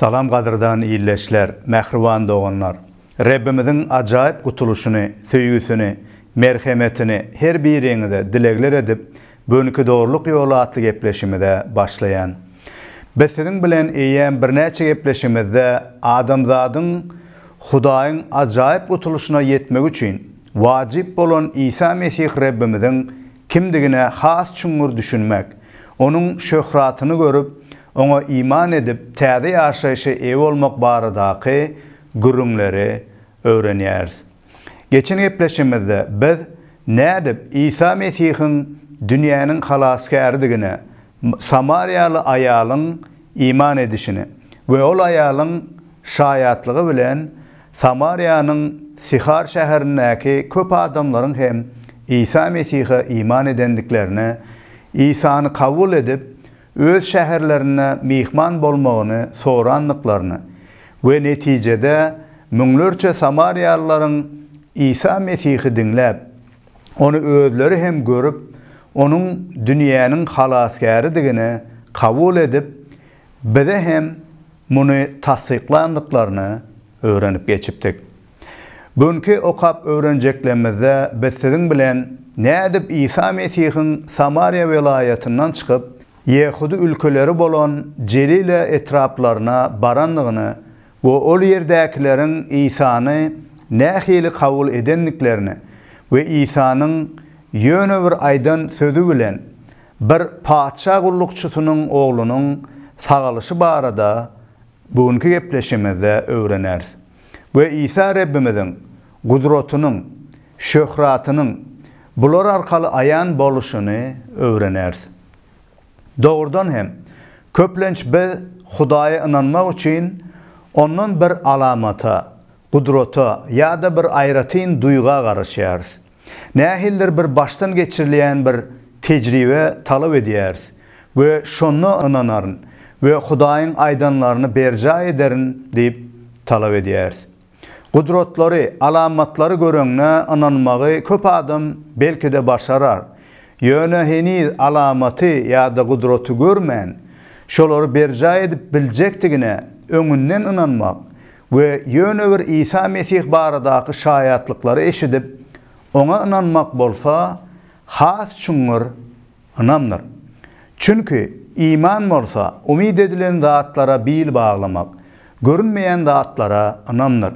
Salam gadyrdan ildeşler, mähriban doganlar! Rebbimiziň ajaýyp gutulyşyny, söýgüsini, merhemetini her biriňize dilegler edip, Göwnüki dogrulyk ýoly atly gepleşimize başlaýan. Biz siziň bilen eýýäm birnäçe gepleşimizde adamzadyň Hudaýyň ajaýyp gutulyşyna ýetmegi üçin wajyp bolan Isa Mesih Rebbimiziň kimdigine has çuňňur düşünmek, Onuň şöhratyny görüp, Oňa iman edip, täze ýaşaýşa eýe bolmak baradaky gürrüňleri öwrenýäris. Geçen gepleşigimizde biz nädip Isa Mesihiň dünýäniň Halasgäridigine samariýaly aýalyň iman edişini we ol aýalyň şaýatlygy bilen Samariýanyň Sihar şäherindäki köp adamlaryň hem Isa Mesihe iman edendiklerini, Isany kabul edip, öz şäherlerinde myhman bolmagyny sorandyklaryny we netijede müňlerçe samariýalylaryň Isa Mesihi diňläp, Ony özleri hem görüp, Onuň dünýäniň Halasgäridigini kabul edip, bize hem muny tassyklandyklaryny öwrenip geçipdik. Günki okap öwrenjeklemizde biz siziň bilen nädip Isa Mesihiň Samariýa welaýatyndan çykyp, ýehudy ülkeleri bolan Jelile etraplaryna barandygyny we ol ýerdäkileriň Isany nähili kabul edendiklerini we Isanyň ýöne bir aýdan sözi bilen bir patyşa gullukçysynyň oglunyň sagalyşy barada günki gepleşimizde öwreneris. we Isa Rebbimiziň gudratynyň, şöhratynyň bular arkaly aýan boluşyny öwreneris. Dogrudan hem, köplenç biz Hudaýa ynanmak üçin Ondan bir alamata, gudrata ýa-da bir aýratyn duýga garaşýarys. Nähilidir bir başdan geçirilýän bir tejribe talap edýäris we şonda ynanaryn we Hudaýyň aýdanlaryny berjaý ederin diýip talap edýäris. Gudratlary, alamatlary göreňňä ynanmagy köp adam belki-de başarar, ýöne heniz alamaty ýa-da gudraty görmän, şolary berjaý edip biljekdigine öňünden ynanmak we ýöne bir Isa Mesih baradaky şaýatlyklary eşidip, Oňa ynanmak bolsa, has çuňňur ynamdyr. Çünki, iman bolsa, umyt edilen zatlara bil baglamak, görünmeýän zatlara ynamdyr.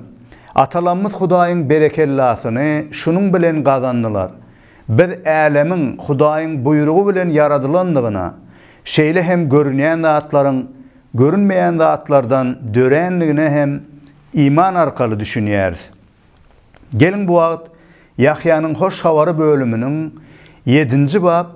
Atalarymyz Hudaýyň berekellasyny şunuň bilen gazandylar. Biz älemiň Hudaýyň buýrugy bilen ýaradylandygyna, şeýle hem görünýän zatlaryň görünmeýän zatlardan dörändigine hem iman arkaly düşünýäris. Geliň bu wagt Ýahýanyň Hoş Habary bölüminiň ýedinji bap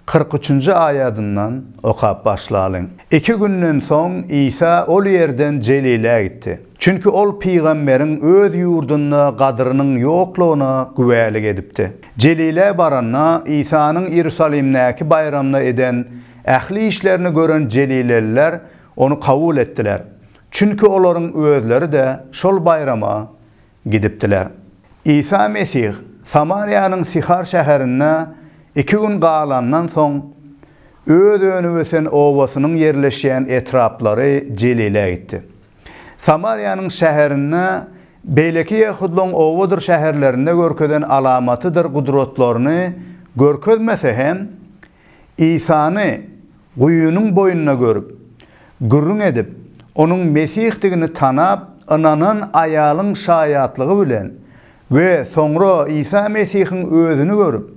kyrk üçünji aýadyndan okap başlalyň. Iki günden soň Isa ol ýerden Jelilä gitdi. Çünki ol pygamberiň öz ýurdunda gadyrynyň ýoklugyna güwälik edipdi. Jelilä baranda Isanyň Iýerusalimdäki baýramda eden Ähli işlerini gören jelileliler ony kabul etdiler, çünki olaryň özleri-de şol baýrama gidipdiler. Isa Mesih Samariýanyň Syhar şäherinde iki gün galandan soň, Öz önüp ösen obasynyň ýerleşýän etraplary Jelilä gitdi. Samariýanyň şäherinde beýleki ýehudlaryň obadyr şäherlerinde görkezen alamatydyr gudratlaryny görkezmese hem, Isany guýynyň boýunda görüp, gürrüň edip, onuň Mesihdigini tanap ynanan aýalyň şaýatlygy bilen we soňra Isa Mesihiň Özüni görüp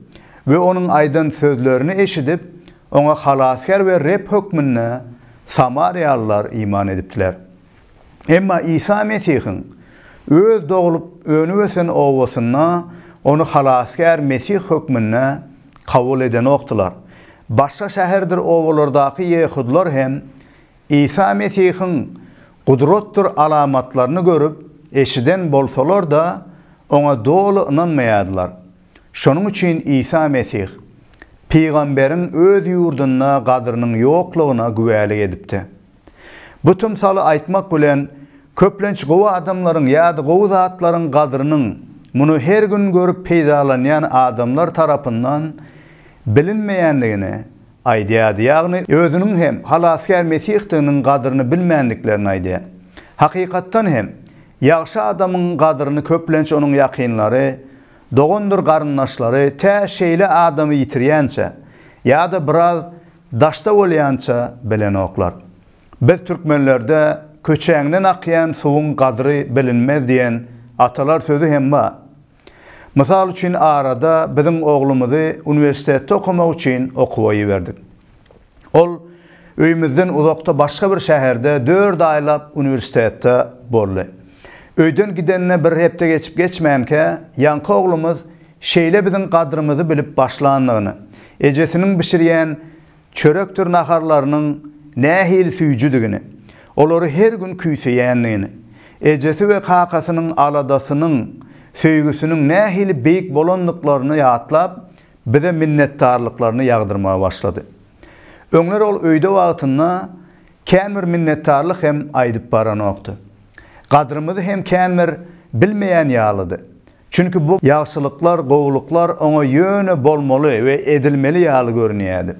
we Onuň aýdan sözlerini eşidip, Oňa Halasgär we Reb hökmünde samariýalylar iman edipdiler. Emma Isa Mesihiň Öz doglup, önüp-ösen obasynda Ony Halasgär Mesih hökmünde kabul edenokdylar. Başga şäherdir obalardaky ýehudylar hem Isa Mesihiň gudratdyr alamatlaryny görüp, eşiden bolsalar-da, Oňa doly ynanmaýardylar. Şonuň üçin Isa Mesih, pygamberiň öz ýurdunda gadrynyň ýoklugyna güwälik edipdi. Bu tymsaly aýtmak bilen, köplenç gowy adamlaryň ýa-da gowy zatlaryň gadrynyň muny her gün görüp peýdalanýan adamlar tarapyndan bilinmeýändigini aýdýardy, ýagny özüniň hem Halasgär Mesihdiginiň gadryny bilmändiklerini aýdýar. Hakykatdan hem, ýagşy adamyň gadryny köplenç onuň ýakynlary, dogandyr garyndaşlary tä şeýle adamy ýitirýänçä ýa-da biraz Daşda bolýança bilenoklar. Biz türkmenlerde Köçäňden akýan suwuň gadry bilinmez diýen atalar sözi hem bar. Mysal üçin arada biziň oglumyzy uniwersitetde okamak üçin okuwa iberdik. Ol öýümizden uzakda başga bir şäherde dört aýlap uniwersitetde boldy. Öýden gidenine bir hepde geçip-geçmänkä ýaňky oglumyz şeýle biziň gadrymyzy bilip başlandygyny, ejesiniň bişirýän çörekdir naharlarynyň nähili süýjüdigini, olary her gün küýseýändigini, ejesi we kakasynyň aladasynyň, söýgüsiniň nähili beýik bolandyklaryny ýatlap, bize minnetdarlyklaryny ýagdyrmaga başlady. Öňler ol öýde wagtynda kän bir minnetdarlyk hem aýdyp baranokdy. Gadrymyzy hem kän bir bilmeýän ýalydy. Çünki bu ýagşylyklar, gowulyklar oňa ýöne bolmaly we edilmeli ýaly görünýärdi.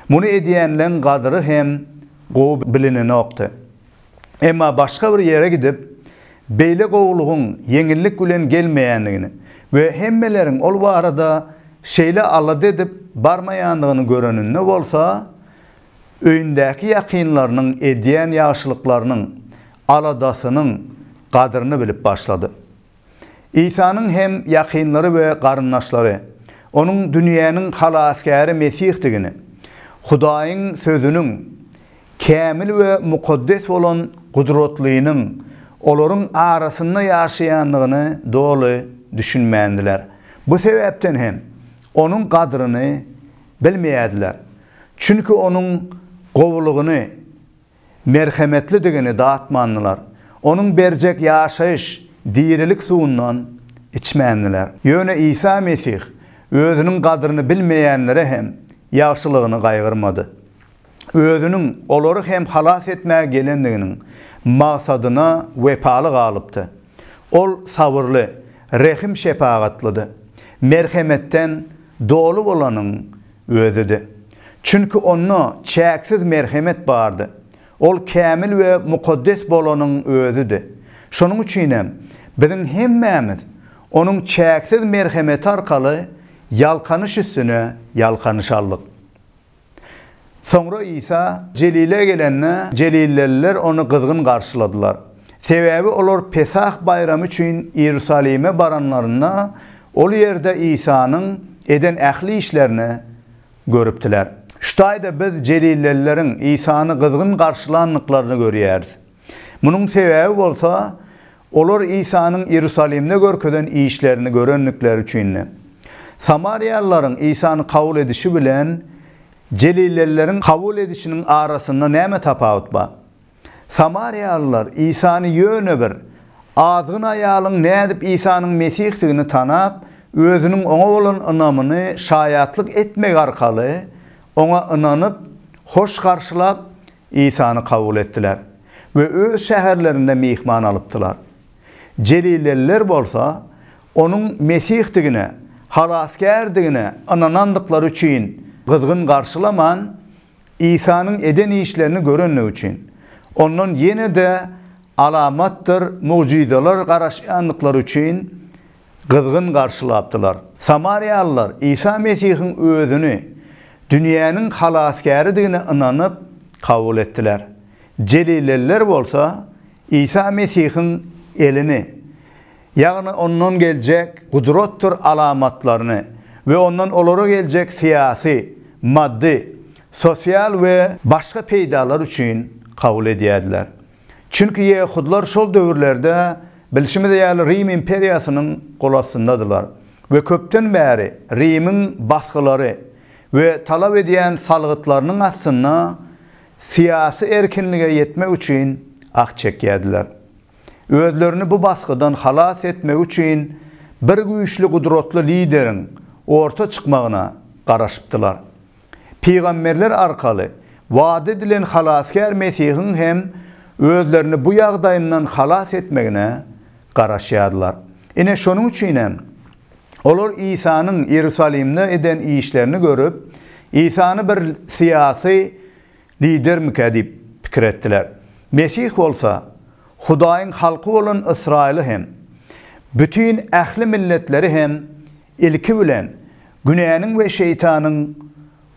Muny edýänleň gadyry hem gowy bilinenokdy. Emma başga bir ýere gidip, beýle gowulygyň ýeňillik bilen gelmeýändigini we hemmeleriň ol barada şeýle alada edip barmaýandygyny göreninde bolsa, öýündäki ýakynlarynyň edýän ýagşylyklarynyň, aladasynyň gadyryny bilip başlady. Isanyň hem ýakynlary we garyndaşlary Onuň dünýäniň Halasgäri Mesihdigini, Hudaýyň Sözüniň, kämil we mukaddes bolan Gudratlynyň olaryň arasynda ýaşaýandygyny doly düşünmändiler. Bu sebäpden hem Onuň gadryny bilmeýärdiler. Çünki Onuň gowulygyny merhemetlidigini datmandylar, Onuň berjek ýaşaýyş, dirilik suwundan içmändiler. Ýöne Isa Mesih Özüniň gadryny bilmeýänlere hem ýagşylygyny gaýgyrmady. Özüniň olary hem halas etmäge gelendiginiň magsadyna wepaly galypdy. Ol sabyrly, rehim-şepagatlydy. Merhemetden doly bolanyň Özüdi. Çünki Onda çäksiz merhemet bardy. Ol kämil we mukaddes bolanyň Özüdi. Şonuň üçin hem, biziň hemmämiz Onuň çäksiz merhemeti arkaly ýalkanyş üstüne ýalkanyş aldyk. Soňra Isa Jelile gelende, jelilleliler Ony gyzgyn garşyladylar. Sebäbi olar Pesah baýramy üçin Iýerusalime baranlarynda, ol ýerde Isanyň eden ähli işlerini görüpdiler. Şu taýda biz jelilelileriň Isany gyzgyn garşylandyklaryny görýäris. Munuň sebäbi bolsa, olar Isanyň Iýerusalimde görkezen işlerini görendikleri üçindi. Samariýalylaryň Isany kabul edişi bilen jelilelileriň kabul edişiniň arasynda näme tapawut bar? Samariýalylar Isany ýöne bir azgyn aýalyň nädip Isanyň Mesihdigini tanap, özüniň oňa bolan ynamyny şaýatlyk etmegi arkaly oňa ynanyp, hoş garşylap, Isany kabul etdiler we öz şäherlerinde myhman alypdylar. Jelileliler bolsa Onuň Mesihdigine, Halasgärdigine ynanandyklary üçin gyzgyn garşylaman, Isanyň eden işlerini görenligi üçin, Ondan ýene-de alamatdyr mugjyzalar garaşýandyklary üçin gyzgyn garşylapdylar. Samariýalylar Isa Mesihiň Özüni dünýäniň Halasgäridigine ynanyp, kabul etdiler. Jelileliler bolsa Isa Mesihiň elini ýagny ondan geljek gudratdyr alamatlaryny we ondan olara geljek syýasy, maddy, sosial we başga peýdalar üçin kabul edýärdiler. Çünki ýehudlar şol döwürlerde bilşimiz ýaly Rim imperiýasynyň golastyndadylar we köpden bäri Rimiň basgylary we talap edýän salgytlarynyň astynda syýasy erkinlige ýetmek üçin ah çekýärdiler. Özlerini bu basgydan halas etmegi üçin bir güýçli gudratly lideriň orta çykmagyna garaşypdylar. Pygamberler arkaly wada edilen Halasgär Mesihiň hem özlerini bu ýagdaýyndan halas etmegine garaşýardylar. Ine şonuň üçin hem olar Isanyň Iýerusalimde eden işlerini görüp, Isany bir syýasy, Lidermikä diýip pikir etdiler. Mesih bolsa Hudaýyň halky bolan Ysraýyly hem, bütin ähli milletleri hem ilki bilen günäniň we şeýtanyň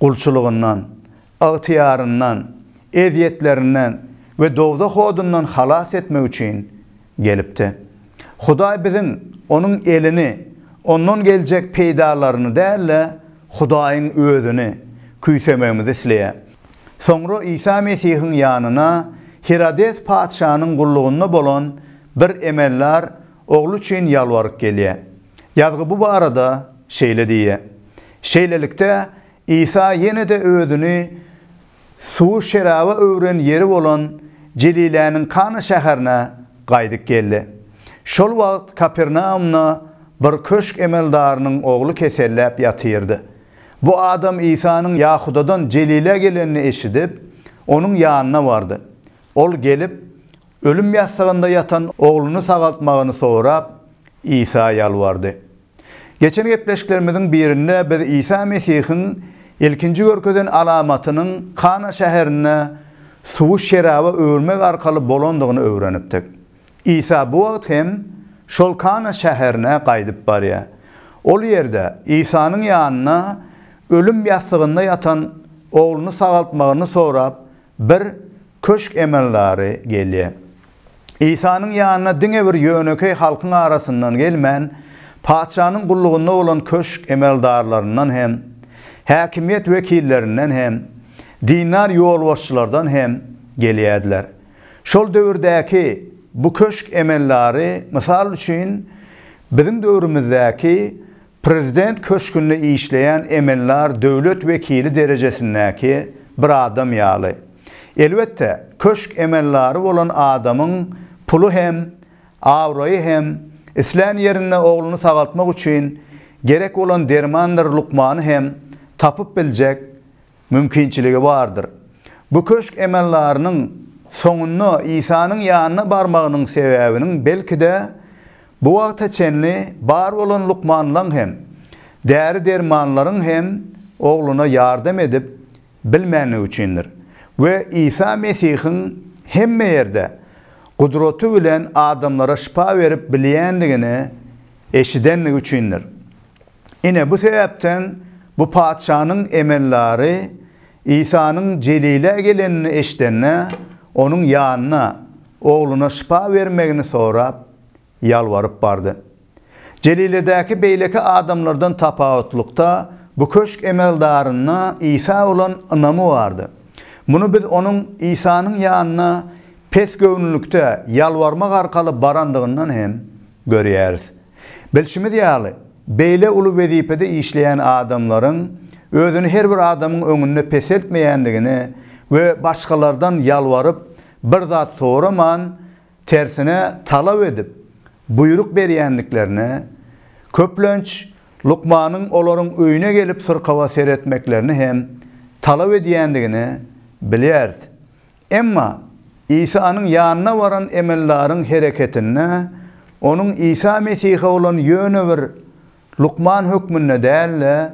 gulçulygyndan, ygtyýaryndan, ezýetlerinden we dowzah odundan halas etmek üçin Gelipdi. Hudaý biziň, Onuň elini, Ondan geljek peýdalaryny däl-de, Hudaýyň Özüni küýsemegimizi isleýär. Soňra Isa Mesihiň ýanyna Hirodes patyşanyň gullugynda bolan bir emeldar ogly üçin ýalbaryp gelýär. Ýazgy bu barada şeýle diýýär, Şeýlelikde, Isa ýene-de Özüni suwy şeraba öwren ýeri bolan Jeliläniň Kana şäherine gaýdyp geldi. Şol wagt Kapernaumda bir köşk emeldarynyň ogly keselläp ýatyrdy. Bu adam Isanyň Ýahudadan Jelilä gelenini eşidip, onuň ýanyna bardy. Ol gelip, ölüm ýassygynda ýatan ogluny sagaltmagyny sorap, Isa ýalbardy. Geçen gepleşiklerimiziň birinde biz Isa Mesihiň ilkinji görkezen alamatynyň Kana şäherinde suwy şeraba öwürmek arkaly bolandygyny öwrenipdik. Isa bu wagt hem şol Kana şäherine gaýdyp barýar. Ol ýerde Isanyň ýanyna ölüm ýassygynda ýatan ogluny sagaltmagyny sorap, Bir köşk emeldary gelýär. Isanyň ýanyna diňe bir ýönekeý halkyň arasyndan gelmän, patyşanyň gullugynda bolan köşk emeldarlaryndan hem, häkimiýet wekillerinden hem, dindar ýolbaşçylardan hem gelýärdiler. Şol döwürdäki bu köşk emeldary, mysal üçin, biziň döwrümizdäki Prezident köşgünde işleýän emellar döwlet wekili derejesindäki bir adam ýaly. Elbetde, köşk emellary bolan adamyň puly hem, abraýy hem, islän ýerinde ogluny sagaltmak üçin gerek bolan dermandyr lukmany hem tapyp biljek Mümkinçiligi bardyr. Bu köşk emeldarynyň soňunda Isanyň ýanyna barmagynyň sebäbiniň belki-de, bu wagta çenli bar bolan lukmanlaň hem, däri-dermanlaryň hem ogluna ýardam edip bilmändigi üçindir we Isa Mesihiň hemme ýerde gudraty bilen adamlara şypa berip bilýändigini eşidendigi üçindir. Ine, bu sebäpden bu patyşanyň emeldary Isanyň Jelile gelenini eşidende, onuň ýanyna, ogluna şypa bermegini sorap, ýalbaryp bardy. Jeliledäki beýleki adamlardan tapawutlykda, bu köşk emeldarynda Isa bolan ynamy bardy. Muny biz onuň Isanyň ýanyna pesgöwünlikde ýalbarmak arkaly barandygyndan hem görýäris. Bilşimiz ýaly, beýle uly wezipede işleýän adamlaryň özüni her bir adamyň öňünde peseltmeýändigini we başgalardan ýalbaryp, bir zat soraman, tersine talap edip, buýruk berýändiklerini, köplenç, lukmanyň olaryň öýüne gelip syrkawa seretmeklerini hem talap edýändigini bilýäris. Emma Isanyň ýanyna baran emeldaryň hereketinde onuň Isa Mesihe bolan ýöne bir lukman hökmünde däl-de,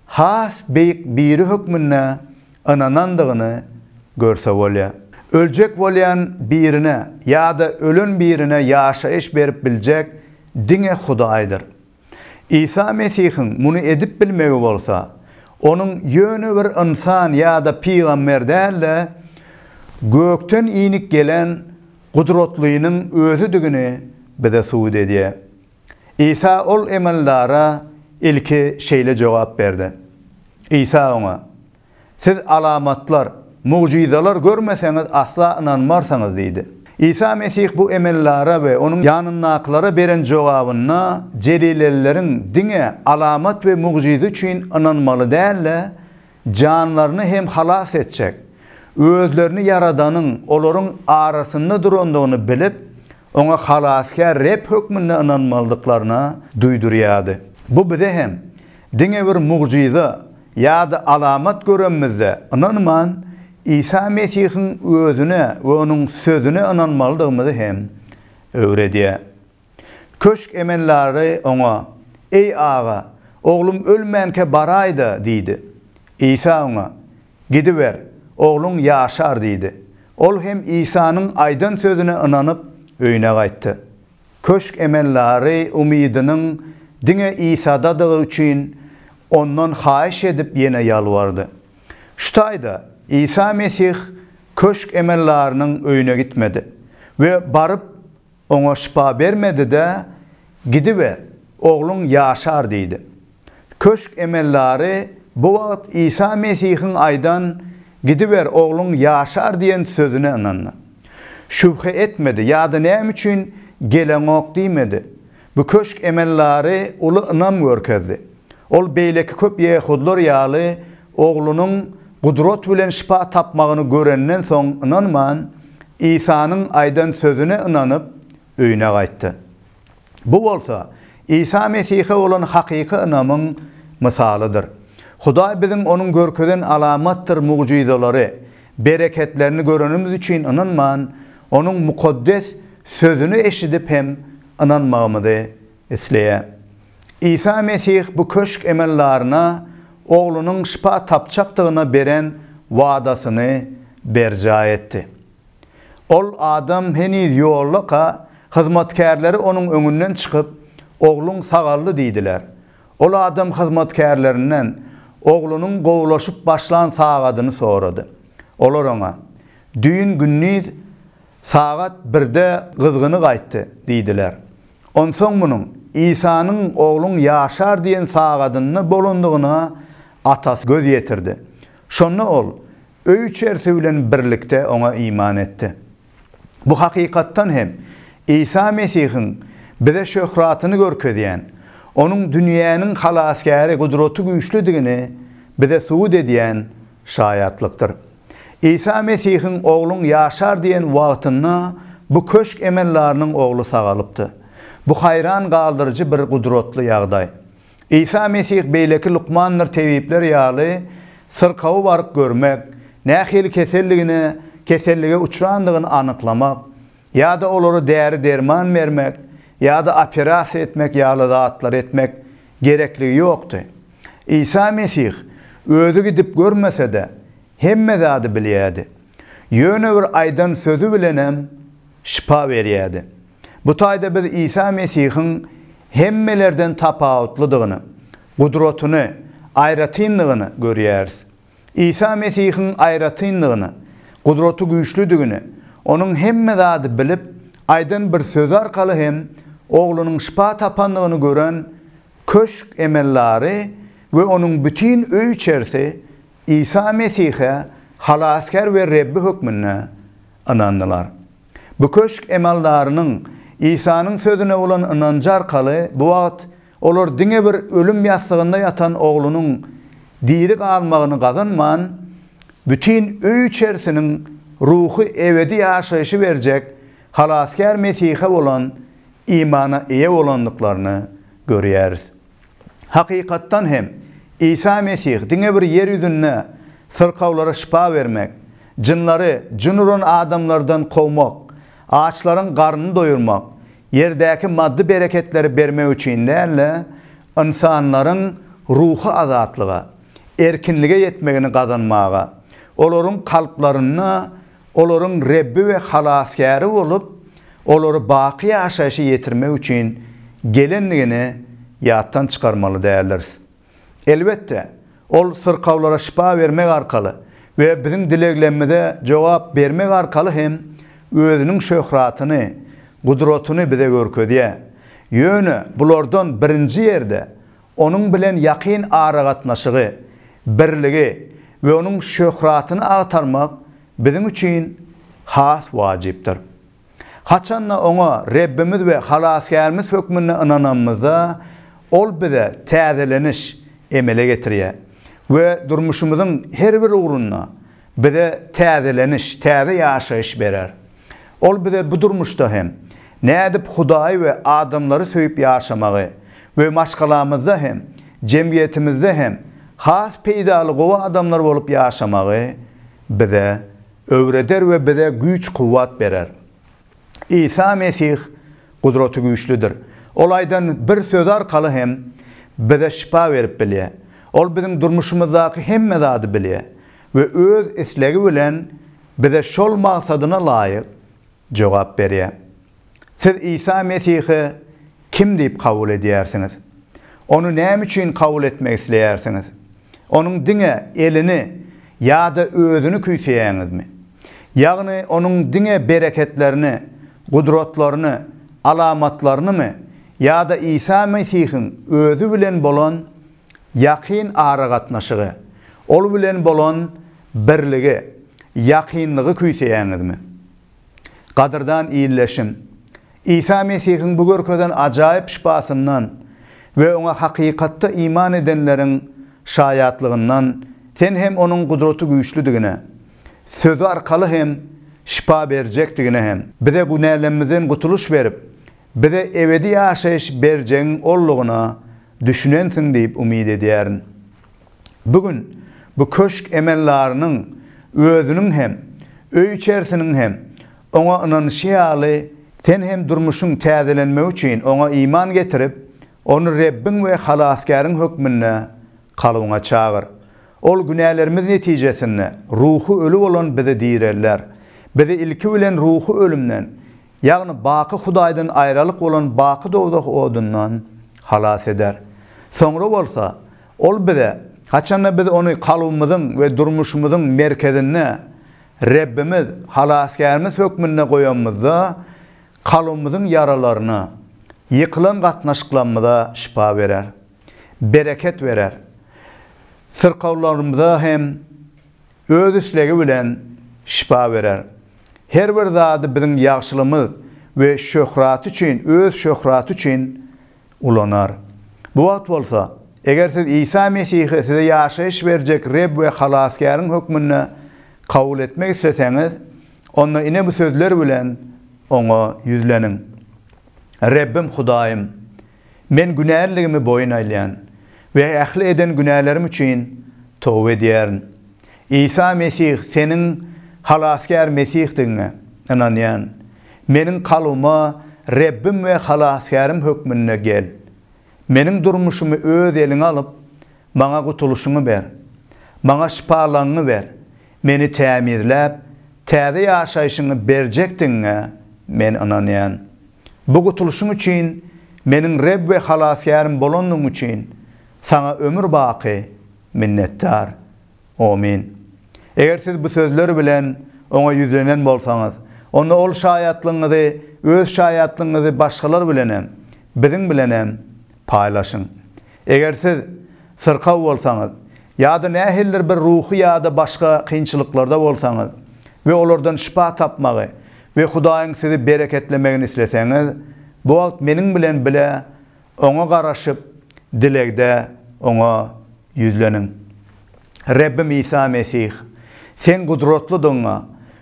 has beýik Biri hökmünde ynanandygyny görse bolýar. Öljek bolýan birine ýa-da ölen birine ýaşaýyş berip biljek diňe Hudaýdyr. Isa Mesihiň muny edip bilmegi bolsa, onuň ýöne bir ynsan ýa-da pygamber däl-de, gökden inip gelen Gudratlynyň Özüdigini bize subut edýär. Isa ol emeldara ilki şeýle jogap berdi. Isa oňa. Siz alamatlar, mugjyzalar görmeseňiz, asla ynanmarsyňyz diýdi. Isa Mesih bu emellara we onuň ýanyndakylara beren jogabynda jelilelileriň diňe alamat we mugjyza üçin ynanmaly däl-de, janlaryny hem halas etjek, özlerini Ýaradanyň olaryň arasynda durandygyny bilip, oňa Halasgär Reb hökmünde ynanmalydyklaryna duýdurýardy. Bu bize hem diňe bir mugjyza, ýa-da alamat görenimizde ynanman, Isa Mesihiň Özüne we Onuň Sözüne ynanmalydygymyzy hem öwredýär. Köşk emellary Oňa, Eý, aga, oglum ölmänkä baraý-da! diýdi. Isa oňa, Gidiber, ogluň ýaşar diýdi. Ol hem Isanyň aýdan sözüne ynanyp, öýüne gaýtdy. Köşk emeldary umydynyň diňe Isadadygy üçin Ondan haýyş edip ýene ýalbardy. Şu taýda Isa Mesih köşk emeldarynyň öýüne gitmedi we baryp oňa şypa bermedi-de, Gidiber, ogluň ýaşar diýdi. Köşk emeldary bu wagt Isa Mesihiň aýdan Gidiber, ogluň ýaşar diýen sözüne ynandy. Şübhe etmedi ýa-da näme üçin geleňok diýmedi. Bu köşk emeldary uly ynam görkezdi. Ol beýleki köp ýehudylar ýaly oglunyň gudrat bilen şypa tapmagyny görenden soň ynanman, Isanyň aýdan sözüne ynanyp, öýüne gaýtdy. Bu bolsa, Isa Mesihe bolan hakyky ynamyň mysalydyr. Hudaý biziň Onuň görkezen alamatdyr mugjyzalary, bereketlerini görenimiz üçin ynanman, Onuň mukaddes Sözüni eşidip hem ynanmagymyzy isleýär. Isa Mesih bu köşk emeldaryna Oglunyň şypa tapjakdygyna beren wadasyny berjaý etdi. Ol adam heniz ýoldaka, hyzmatkärleri onuň öňünden çykyp, Ogluň sagaldy diýdiler. Ol adam hyzmatkärlerinden oglunyň gowulaşyp başlan sagadyny sorady. Olar oňa, Düýn gündiz sagat birde gyzgyny gaýtdy diýdiler. Onsoň munuň Isanyň Ogluň ýaşar diýen sagadynda bolandygyna atasy göz ýetirdi. Şonda ol, öý-içerisi bilen birlikde oňa iman etdi. Bu hakykatdan hem Isa Mesihiň bize şöhratyny görkezýän, onuň dünýäniň Halasgäri gudraty güýçlüdigini bize subut edýän şaýatlykdyr. Isa Mesihiň Ogluň ýaşar diýen wagtynda bu köşk emeldarynyň ogly sagalypdy. Bu haýran galdyryjy bir gudratly ýagdaý. Isa Mesih beýleki lukmandyr tebipler ýaly syrkawy baryp görmek, nähili keselligine kesellige uçrandygyny anyklamak ýa-da olara däri-derman bermek ýa-da operasiýa etmek ýaly zatlary etmek gerekligi ýokdy. Isa Mesih özi gidip görmese-de, hemme zady bilýärdi. Ýöne bir aýdan sözi bilenem şypa berýärdi. Bu taýda biz Isa Mesihiň hemmelerden tapawutlydygyny, gudratyny, aýratynlygyny görýäris. Isa Mesihiň aýratynlygyny, gudraty güýçlüdigini Onuň hemme zady bilip, aýdan bir sözi arkaly hem oglunyň şypa tapandygyny gören köşk emellary we onuň bütin öý-içerisi Isa Mesihe Halasgär we Rebbi hökmünde ynandylar. Bu köşk emeldarynyň Isanyň sözüne bolan ynanjy arkaly bu wagt olar diňe bir ölüm ýassygynda ýatan oglunyň diri galmagyny gazanman, bütin öý-içerisiniň ruhy ebedi ýaşaýşy berjek Halasgär Mesihe bolan imana eýe bolandyklaryny görýäris. Hakykatdan hem, Isa Mesih diňe bir ýer ýüzünde syrkawlara şypa bermek, jynlary, jyn uran adamlardan kowmak, açlaryň garnyny doýurmak, ýerdäki maddy bereketleri bermek üçin däl-de, ynsanlaryň ruhy azatlyga, erkinlige ýetmegini gazanmaga, olaryň kalplarynda olaryň Rebbi we Halasgäri bolup, olary baky ýaşaýşa ýetirmek üçin gelendigini ýatdan çykarmaly däldiris. Elbetde, ol syrkawlara şypa bermek arkaly we biziň dileglerimize jogap bermek arkaly hem özüniň şöhratyny, gudratyny bize görkezýär. Ýöne bulardan birinji ýerde Onuň bilen ýakyn aragatnaşygy, birligi we onuň şöhratyny agtarmak biziň üçin has wajypdyr. Haçan-da Oňa Rebbimiz we Halasgärimiz hökmünde ynananymyzda, Ol bize täzeleniş emele getirýär we durmuşymyzyň her bir ugrunda bize täzeleniş, täze ýaşaýyş berer. Ol bize bu durmuşda hem nädip Hudaýy we adamlary söýüp ýaşamagy we maşgalamyzda hem, jemgyýetimizde hem has peýdaly gowy adamlar bolup ýaşamagy bize öwreder we bize güýç-kuwwat berer. Isa Mesih gudraty güýçlüdir. Ol aýdan bir sözi arkaly hem bize şypa berip bilýär. Ol biziň durmuşymyzdaky hemme zady bilýär we öz islegi bilen bize şol maksadyna laýyk jogap berýär. Siz Isa Mesihi kim diýip kabul edýärsiňiz? Ony näme üçin kabul etmek isleýärsiňiz? Onuň diňe elini ýa-da özüni küýseýäňizmi? Ýagny onuň diňe bereketlerini, gudratlaryny, alamatlarynymy ýa-da Isa Mesihiň özi bilen bolan ýakyn aragatnaşygy, ol bilen bolan Birligi, ýakynlygy küýseýäňizmi? Gadyrdan ildeşim, Isa Mesihiň bu görkezen ajaýyp şypasyndan we oňa hakykatda iman edenleriň şaýatlygyndan sen hem onuň gudraty güýçlüdigine, Sözi arkaly hem şypa berjekdigine hem, bize günälemizden gutulyş berip, bize ebedi ýaşaýyş berjegiň Oldygyna düşünensiň diýip umyt edýärin. Bu gün bu köşk emeldarynyň özüniň hem, öý-içerisiniň hem oňa ynanyşy ýaly, sen hem durmuşyň täzelenmegi üçin oňa iman getirip, ony Rebbiň we Halasgäriň hökmünde kalbyňa çagyr. Ol günälerimiz netijesinde ruhy öli bolan bizi direlder. Bizi ilki bilen ruhy ölümden, ýagny baky Hudaýdan aýralyk bolan baky dowzah odundan halas eder. Soňra bolsa Ol bize, haçanda biz Ony kalbymyzyň we durmuşymyzyň merkezinde Rebbimiz, Halasgärimiz hökmünde goýanymyzda, kalbymyzyň ýaralaryna, ýykylan gatnaşyklarymyza şypa berer, bereket berer, syrkawlarymyza hem, Öz islegi bilen şypa berer. Her bir zady biziň ýagşylygymyz we şöhraty üçin, öz şöhraty üçin ulanar. Bu wagt bolsa, eger siz Isa Mesihi size ýaşaýyş berjek Reb we Halasgäriň hökmünde kabul etmek isleseňiz, onda ine bu sözler bilen Oňa ýüzleniň, Rebbim Hudaýym! Men günäliligimi boýun alýan we ähli eden günälerim üçin toba edýärin. Isa Mesih seniň Halasgär Mesihdigiňe ynanýan. Meniň kalbyma Rebbim we Halasgärim hökmünde gel. Meniň durmuşymy öz eliňe alyp, maňa gutulyşyňy ber. Maňa şypalaňňy ber. Meni tämizläp, täze ýaşaýşyňy berjekdigiňe men ynanýan. Bu gutulyşyň üçin meniň Reb we Halasgärim bolandygyň üçin Saňa ömür-baky minnetdar. Omyn. Eger siz bu sözler bilen Oňa ýüzlenen bolsaňyz, onda Ol şaýatlygyňyzy, Öz şaýatlygyňyzy başgalar bilenem, biziň bilenem Paýlaşyň. Eger siz syrkaw bolsaňyz ýa-da nähilidir bir ruhy ýa-da başga kynçylyklarda bolsaňyz we olardan şypa tapmagy we Hudaýyň sizi bereketlemegini isleseňiz, bu wagt meniň bilen bile Oňa garaşyp, dilegde Oňa Ýüzleniň. Rebbim Isa Mesih, Seň gudratlydygyňa,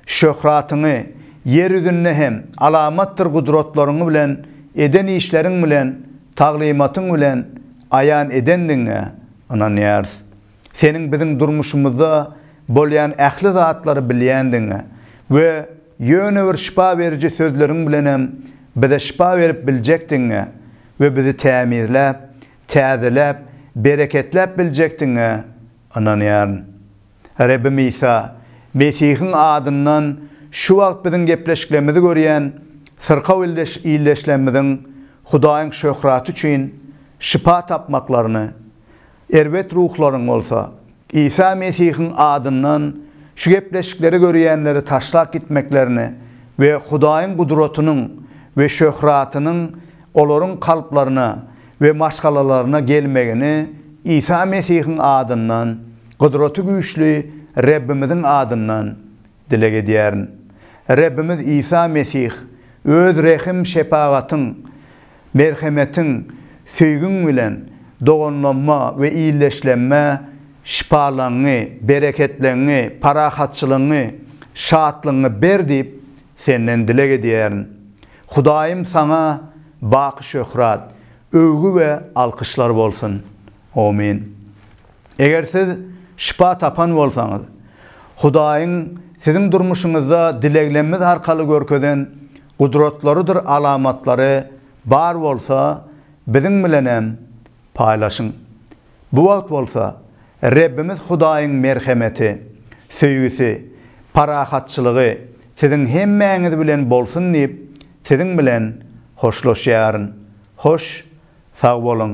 şöhratyňy, ýer ýüzünde hem alamatdyr gudratlaryň bilen, eden işleriň bilen, taglymatyň bilen aýan edendigiňe ynanýarys. Seniň biziň durmuşymyzda bolýan ähli zatlary bilýändigiňe we ýöne bir şypa beriji sözleriň bilenem bize şypa berip biljekdigiňe we bizi tämizläp, täzeläp, bereketläp biljekdigiňe ynanýaryn. Rebbim Isa Mesihiň adyndan şu wagt biziň gepleşiklerimizi görýän syrkaw ildeşlerimiziň Hudaýyň şöhraty üçin şypa tapmaklaryny, erbet ruhlaryň bolsa Isa Mesihiň adyndan şu gepleşikleri görýänleri taşlap gitmeklerini we Hudaýyň gudratynyň we şöhratynyň olaryň kalplaryna we maşgalalaryna gelmegini Isa Mesihiň adyndan, Gudraty Güýçli Rebbimiziň adyndan dileg edýärin. Rebbimiz Isa Mesih Öz rehim-şepagatyň, Merhemetiň, söýgiň bilen doganlanma we ildeşlenme şypalaňňy, bereketleňňi, parahatçylygyňy, şatlygyňy ber diýip, Senden dileg edýärin. Hudaýym Saňa baky şöhrat, öwgi we alkyşlar bolsun. Omyn. Eger siz şypa tapan bolsaňyz, Hudaýyň siziň durmuşyňyzda dileglemmiz arkaly görkezen gudratlarydyr alamatlary bar bolsa, biziň bilenem paýlaşyň. Bu wagt bolsa, Rebbimiz Hudaýyň merhemeti, söýgüsi, parahatçylygy siziň hemmäňiz bilen bolsun diýip, siziň bilen hoşlaşýaryn. Hoş, sag boluň!